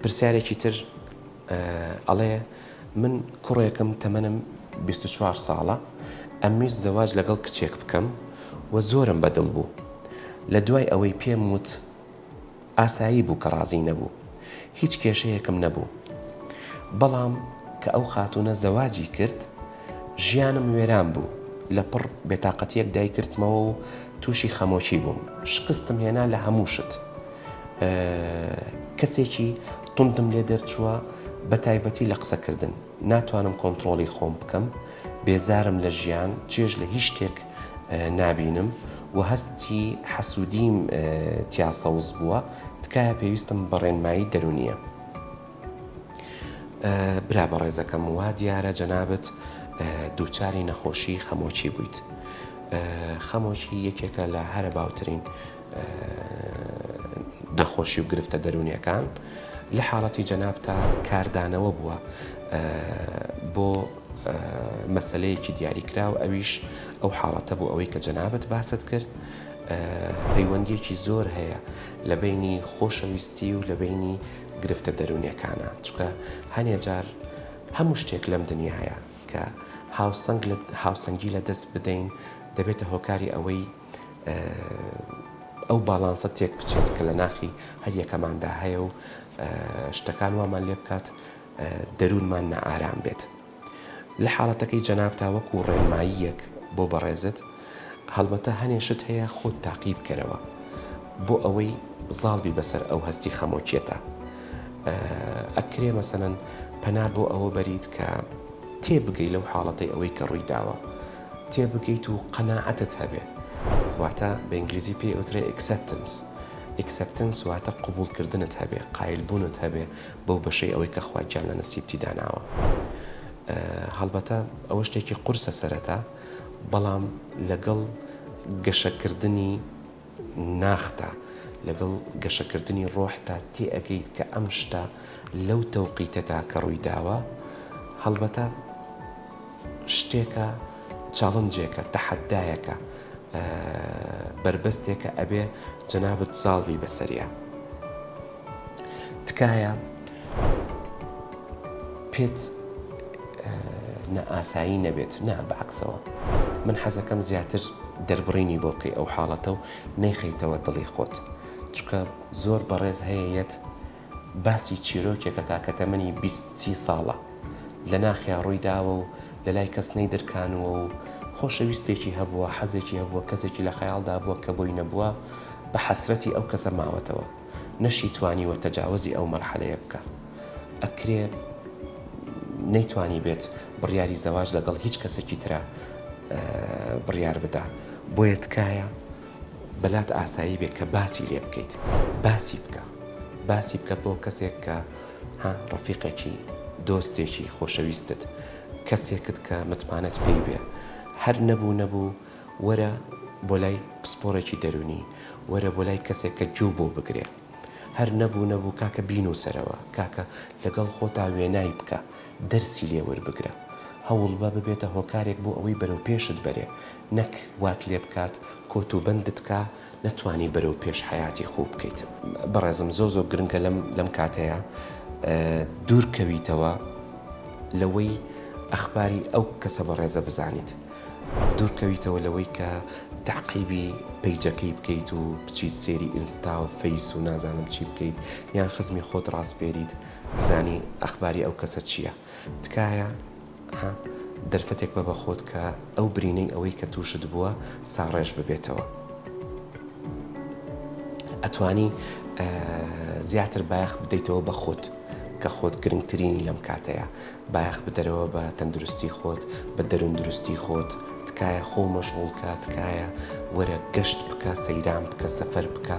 پرسیارێکی تر ئەڵێ من کوڕێکم تەمەنم بیست و چوار ساڵە ئەمویست زەواج لەگەڵ کچێک بکەم و زۆرم بە دڵ بوو لە دوای ئەوەی پێم وت ئاسایی بوو کە ڕازی نەبوو هیچ کێشەیەکم نەبوو بەڵام کە ئەو خاتوونە زەواجی کرد ژیانم وێران بوو، لە پڕ بێتاقەتییەک دایگرتمەوە و تووشی خەمۆکی بووم. شکستم هێنا لە هەموو شت. کەسێکی توندم لێ دەرچووە، بە تایبەتی لە قسەکردن. ناتوانم کۆنتڕۆڵی خۆم بکەم. بێزارم لە ژیان، چێژ لە هیچ شتێک نابینم و هەستی حەسوودییم تیا سەوز بووە. تکایە پێویستم بە ڕێنمایی دەروونییە. برا بەڕێزەکەم وا دیارە جەنابت دووچاری نەخۆشی خەمۆکی بوویت خەمۆکی یەکێکە لە هەرە باوترین نەخۆشی و گرفتە دەروونیەکان لە حاڵەتی جەناب تا کاردانەوە بووە بۆ مەسلەیەکی دیاریکراو ئەویش ئەو حاڵەتە بۆ ئەوەی کە جەنابەت باست کرد پەیوەندیەکی زۆر هەیە لە بینی خۆشەویستی و لە بینی گرفتە دەرونیەکانە چونکە هەنێ جار هەموو شتێک لەم دنیایە کە هاوسەنگ لە هاوسەنگی لە دەست بدەین دەبێتە هۆکاری ئەوەی ئەو باڵانسە تێک بچێت کە لە ناخی هەریەکەماندا هەیە و شتەکان وامان لێ بکات دەروونمان نائارام بێت. لە حاڵەتەکەی جەنابتا وەکو ڕێنماییەک بۆ بەڕێزت، هەڵبەتە هەنێ شت هەیە خۆت تاقی بکەرەوە بۆ ئەوەی زاڵ بی بەسەر ئەو هەستی خەمۆکیەتا. ئەکرێ مەسەلەن پەنا بۆ ئەوە بەریت کە تێبگەی لەو حاڵەتەی ئەوەی کە ڕووی داوە تێبگەیت و قەناعەتت هەبێ. واتە بە ئینگلیزی پێی ئەوترێ Acceptance. Acceptance واتە قبوڵ کردنت هەبێ، قایل بوونت هەبێ بەو بەشەی ئەوەی کە خوا گیان لە نسیبتی داناوە هەڵبەتە ئەوە شتێکی قورسە سەرەتا بەڵام لەگەڵ گەشەکردنی ناختا لەگەڵ گەشەکردنی ڕۆحتا تێ ئەەکەیت کە ئەم شتە لەو تەوقیتەدا کە ڕووی داوە هەڵبەتە شتێکە چاڵنجێکە تەحەدایەکە بەربەستێکە ئەبێ جەنابەت زاڵبی بەسەریا. تکایە پێت نە ئاسایی نەبێت نا بەعکسەوە من حەزەکەم زیاتر دەربڕینی بۆ بکەی ئەو حاڵەتە و نەیخەیتەوە دڵی خۆت چکە زۆر بەڕێز هەیە یەت باسی چیرۆکێکە تاکە تەمەنی بیست سی ساڵە لە ناخیا ڕووی داوە و لە لای کەس نەی درکانوە و خۆشەویستێکی هەبووە حەزێکی هەبووە کەسێکی لە خەیاڵدا بووە کە بۆی نەبووە بە حەسرەتی ئەو کەسە ماوەتەوە. نەشی توانیوە تەجاوەزی ئەو مەرحەلەیە بکا ئەکرێ نەیتوانیبێت بڕیاری زەواج لەگەڵ هیچ کەسێکی ترا بڕیار بدا بۆیە تکایە بەلات ئاسایی بێ کە باسی لێ بکەیت باسی بکە باسی بکە بۆ کەسێک کە ڕەفیقێکی دۆستێکی خۆشەویستت کەسێکت کە متمانەت پێی بێ هەر نەبوو نەبوو وەرە بۆ لای پسپۆڕێکی دەروونی، وەرە بۆ لای کەسێک کە گوێو بۆ بگرێ. هەر نەبوو نەبوو کاکە بینووسەرەوە، کاکە لەگەڵ خۆتا وێنای بکە، دەرسی لێ وەربگرە. هەوڵبە ببێتە هۆکارێک بۆ ئەوەی بەرەو پێشت بەرێ، نەک وات لێ بکات کۆت و بەندت کا، نەتوانی بەرەو پێش حەیاتی خوو بکەیت. بەڕێزم زۆر زۆر گرنگە لەم لەم کاتەیا دوور کەویتەوە لەوەی ئەخباری ئەو کەسە بەڕێزە بزانیت دوور کەویتەوە لەوەی کە تاقیبی پەیجەکەی بکەیت و بچیت سێری ئینستا و فەیس و نازانم چی بکەیت یان خزمی خۆت ڕاسپێریت بزانی ئەخباری ئەو کەسە چییە. تکایە ها دەرفەتێک بە بەخۆت کە ئەو برینەی ئەوەی کە توشت بووە ساڕێژ ببێتەوە ئەتوانی زیاتر بایەخ بدەیتەوە بە خۆت کە خۆت گرنگترینی لەم کاتەیە بایەخ بدەرەوە بە تەندروستی خۆت بە دەروون دروستی خۆت تکایە خۆ مەشغوڵکە تکایە وەرە گەشت بکە سەیران بکە سەفەر بکە